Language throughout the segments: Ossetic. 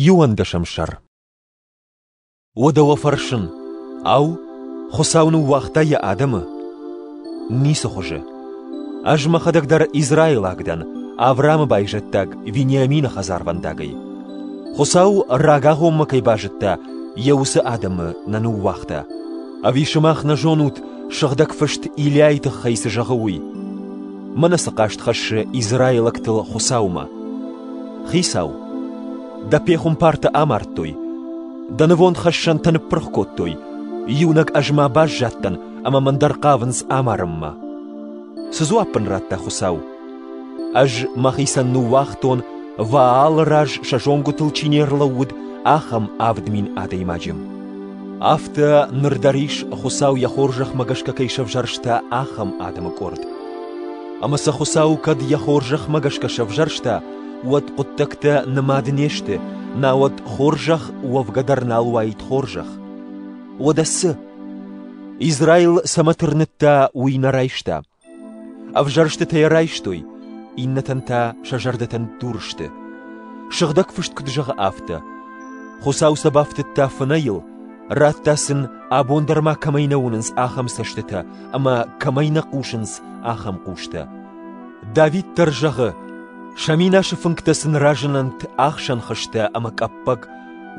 Иуӕндӕсӕм сӕр Уӕдӕ уӕ фӕрсын, ау, Хуыцау ныууагъта йӕ адӕмы? Ницы хуызы. Ӕз мӕхӕдӕг дӕр израилаг дӕн, Авраамы байзӕддаг Вениамины хӕдзарвӕндагӕй. Хуыцау рагагъоммӕ кӕй базыдта, йӕ уыцы адӕмы нӕ ныууагъта. Ӕви сымах нӕ зонут, Сыгъдӕг Фыст Илиайы тыххӕй цы зӕгъы, уый? Мӕнӕ цы хъаст хӕссы израилӕгтыл Хуыцаумӕ. Хицау, дӕ пехуымпартӕ амардтой, дӕ нывондхӕссӕнтӕ ныппырх кодтой, иунӕг ӕз ма баззадтӕн ӕмӕ мӕн дӕр хъавынц амарынмӕ. Цы дзуапп ын радта Хуыцау? Ӕз мӕхицӕн ныууагътон, Ваалы раз сӕ зонгуытыл чи не рлӕууыд, ахӕм авд мин адӕймаджы. Афтӕ ныр дӕр ис, Хуыцау йӕ хорзӕхмӕ гӕсгӕ кӕй сӕвзӕрста ахӕм адӕмы къорд. Ӕмӕ сӕ Хуыцау кӕд йӕ хорзӕхмӕ гӕсгӕ сӕвзӕрста, уӕд хъуыддӕгтӕ нымад не сты, науӕд хорзӕх уӕвгӕ дӕр нал уаид хорзӕх. Уӕдӕ цы? Израил цӕмӕ тырныдта, уый нӕ райста. Ӕвзӕрстытӕ йӕ райстой, иннӕтӕн та сӕ зӕрдӕтӕн дур сты. Сыгъдӕг фыст куыд зӕгъы, афтӕ: Хуыцау сӕ бафтыдта фынӕйыл, радта сын, абон дӕр ма кӕмӕй нӕ уынынц ахӕм цӕстытӕ ӕмӕ кӕмӕй нӕ хъусынц ахӕм хъустӕ. Давид дӕр зӕгъы: Сӕ минасы фынгтӕ сын разынӕнт ӕхсӕн хызтӕ ӕмӕ къӕппӕг,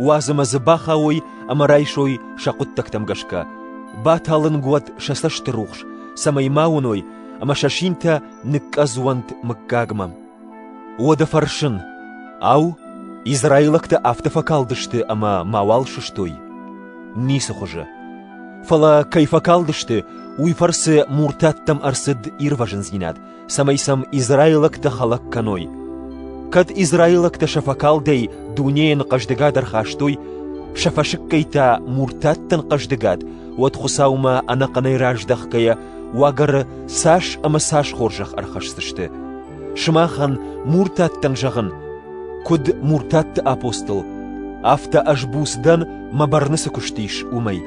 Уадзӕмӕ дзы бахауой ӕмӕ райсой сӕ хъуыддӕгтӕм гӕсгӕ, баталынг уӕд сӕ цӕстырухс, цӕмӕй ма уыной, ӕмӕ сӕ синтӕ ныкъкъӕдз уӕнт мыггагмӕ. Уӕдӕ фӕрсын: ау, израилӕгтӕ афтӕ фӕкалдысты ӕмӕ мауал сыстой? Ницы хуызы. Фӕлӕ кӕй фӕкалдысты, уый фӕрцы муртаттӕм ӕрцыд ирвӕзындзинад, цӕмӕй сӕм израилӕгтӕ хӕлӕг кӕной. Кӕд израилӕгтӕ сӕ фӕкалдӕй дунейӕн хъӕздыгад ӕрхастой, сӕ фӕсыккӕйтӕ муртаттӕн хъӕздыгад, уӕд Хуыцаумӕ ӕнӕхъӕнӕй раздӕхгӕйӕ уагӕры цас ӕмӕ цас хорзӕх ӕрхӕсдзысты. Сымахӕн муртаттӕн зӕгъын, куыд муртатты апостол, афтӕ ӕз буц дӕн, мӕ бӕрны цы куыст ис, уымӕй.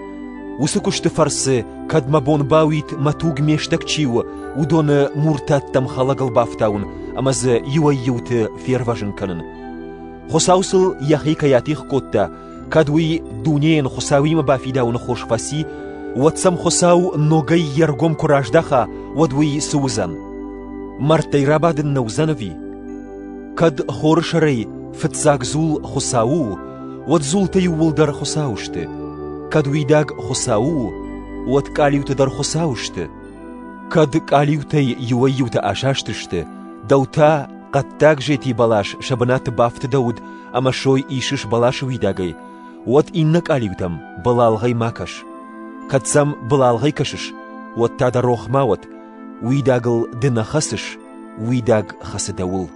Уыцы куысты фӕрцы, кӕд мӕ бон бауид мӕ туг ме стӕг чи у, уыдоны муртаттӕм хӕлӕгыл бафтауын ӕмӕ дзы иуӕй-иуты фервӕзын кӕнын. Хуыцау сыл йӕхи кӕй атигъ кодта, кӕд уый дунейӕн Хуыцауимӕ бафидауыны хос фӕци, уӕд сӕм Хуыцау ногӕй йе ргом куы раздаха, уӕд уый цы уыдзӕн? Мӕрдтӕй рабадын нӕ уыдзӕн ӕви? Кӕд хоры сӕрӕй фыццаг дзул Хуыцау у, уӕд дзултӕ иууылдӕр Хуыцау сты. Кӕд уидаг Хуыцау у, уӕд къалиутӕ дӕр Хуыцау сты. Кӕд къалиутӕй иуӕй-иутӕ асастысты, дӕу та хъӕддаг зети бӕлас сӕ бынаты бафтыдӕуыд ӕмӕ сой исыс бӕласы уидагӕй, уӕд иннӕ къалиутӕм былалгъӕй ма кӕс. Кӕд сӕм былалгъӕй кӕсыс, уӕд та дӕ рох ма уӕд, Уидагыл ды нӕ хӕцыс, уидаг хӕцы дӕуыл.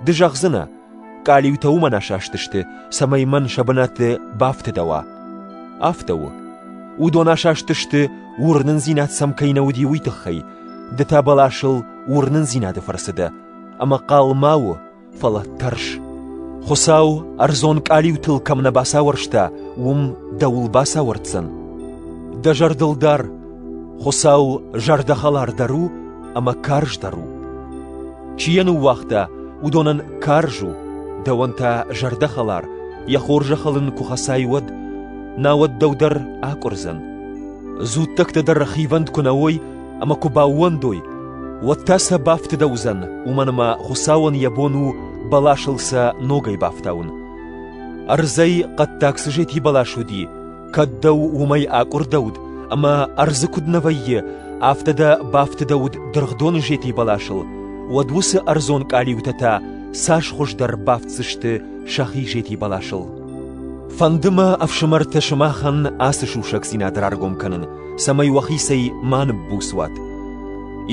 Ды зӕгъдзынӕ, къалиутӕ уымӕн асастысты, цӕмӕй мӕн сӕ бынаты бафтыдӕуа. Афтӕ у. Уыдон асастысты, уырнындзинад сӕм кӕй нӕ уыди, уый тыххӕй. Ды та бӕласыл уырнындзинады фӕрцы дӕ, ӕмӕ хъал ма у, фӕлӕ тӕрс. Хуыцау, ӕрдзон къалиутыл кӕм нӕ бацауӕрста, уым дӕуыл бацауӕрддзӕн. Дӕ зӕрдыл дар, Хуыцау зӕрдӕхӕлардӕр у ӕмӕ карздӕр у. Чи йӕ ныууагъта, уыдонӕн карз у, дӕуӕн та зӕрдӕхӕлар, йӕ хорзӕхыл ын куы хӕцай, уӕд, науӕд дӕу дӕр акъуырдзӕн. Дзуттӕгтӕ дӕр хивӕнд куы нӕ уой, ӕма куд баууӕндой, уӕдта сӕ бафтидӕ уодзӕн, уомӕн ӕма Хуцауӕн йӕ бон у бӕласыл сӕ ногӕй бафтаун. Ӕрдзӕй хъӕддаг цы зети бӕлас уди, кӕд дӕу уомӕй акъурдӕуд, ӕма ӕрдзы куд нӕ вӕййи, афтӕ дӕ бафтидӕуд дыргъдоны зети бӕласыл, уӕд уыцы ӕрдзон къалиутӕ та цас хуыздӕр бафтдзысты сӕхи зети бӕласыл. Фӕнды мӕ, ӕфсымӕртӕ, сымахӕн ацы сусӕгдзинад раргом кӕнын, цӕмӕй уӕхицӕй ма ныббуц уат.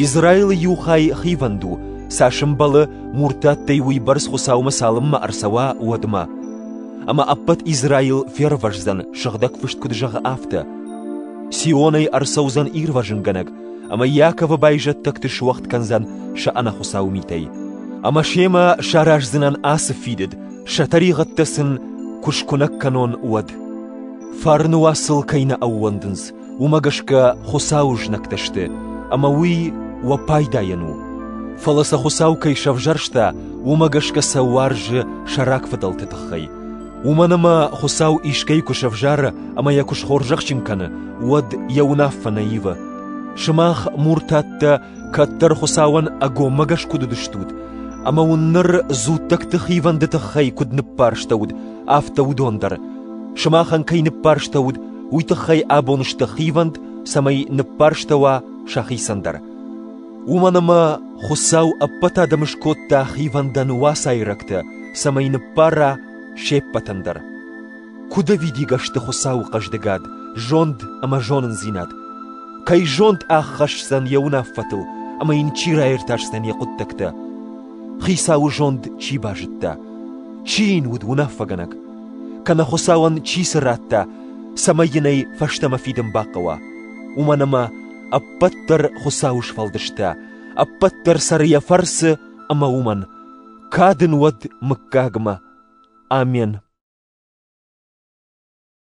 Израилы иу хай хивӕнд у, цас ӕмбӕлы, муртаттӕй уыйбӕрц Хуыцаумӕ цалынмӕ ӕрцӕуа, уӕдмӕ. Ӕмӕ ӕппӕт Израил фервӕздзӕн, сыгъдӕг фыст куыд зӕгъы, афтӕ. Сионӕй ӕрцӕудзӕн ирвӕзынгӕнӕг, ӕмӕ Иаковы байзӕддӕгты суӕгъд кӕндзӕн сӕ ӕнӕхуыцау митӕй. Ӕмӕ семӕ сараздзынӕн ацы фидыд, сӕ тӕригъӕдтӕ сын куы скуынӕг кӕнон, уӕд. Фарны уацыл кӕй нӕ ӕууӕндынц, уымӕ гӕсгӕ Хуыцауы знӕгтӕ сты, ӕмӕ уый уӕ пайдайӕн у. Фӕлӕ сӕ Хуыцау кӕй сӕвзӕрста, уымӕ гӕсгӕ сӕ уарзы сӕ рагфыдӕлты тыххӕй. Уымӕн ӕмӕ Хуыцау искӕй куы сӕвзӕры ӕмӕ йӕ куы схорзӕхджын кӕны, уӕд йӕ уынаффӕ нӕ ивы. Сымах, муртаттӕ, кӕддӕр Хуыцауӕн ӕгоммӕгӕс куыд уыдыстут, ӕмӕ уын ныр дзуттӕгты хивӕнды тыххӕй куыд ныббарстӕуыд, афтӕ уыдон дӕр. Сымахӕн кӕй ныббарстӕуыд, уый тыххӕй абон сты хивӕнд, цӕмӕй ныббарстӕуа сӕхицӕн дӕр. Уымӕн ӕмӕ Хуыцау ӕппӕт адӕмы скодта хивӕндӕн уацайрӕгтӕ, цӕмӕй ныббара се ппӕтӕн дӕр. Куыд ӕвидигӕ сты Хуыцауы хъӕздыгад, зонд ӕмӕ зонындзинад! Кӕй зонд ӕххӕсдзӕн йӕ уынаффӕтыл ӕмӕ йын чи раиртасдзӕн йӕ хъуыддӕгтӕ? Хицауы зонд чи базыдта, чи йын уыд уынаффӕгӕнӕг, кӕнӕ Хуыцауӕн чи цы радта, цӕмӕй йын ӕй фӕстӕмӕ фидын бахъӕуа, уымӕн ӕмӕ ӕппӕт дӕр Хуыцауы сфӕлдыстӕ, ӕппӕт дӕр цӕры йӕ фӕрцы ӕмӕ уымӕн кад ын уӕд мыггагмӕ. Амен.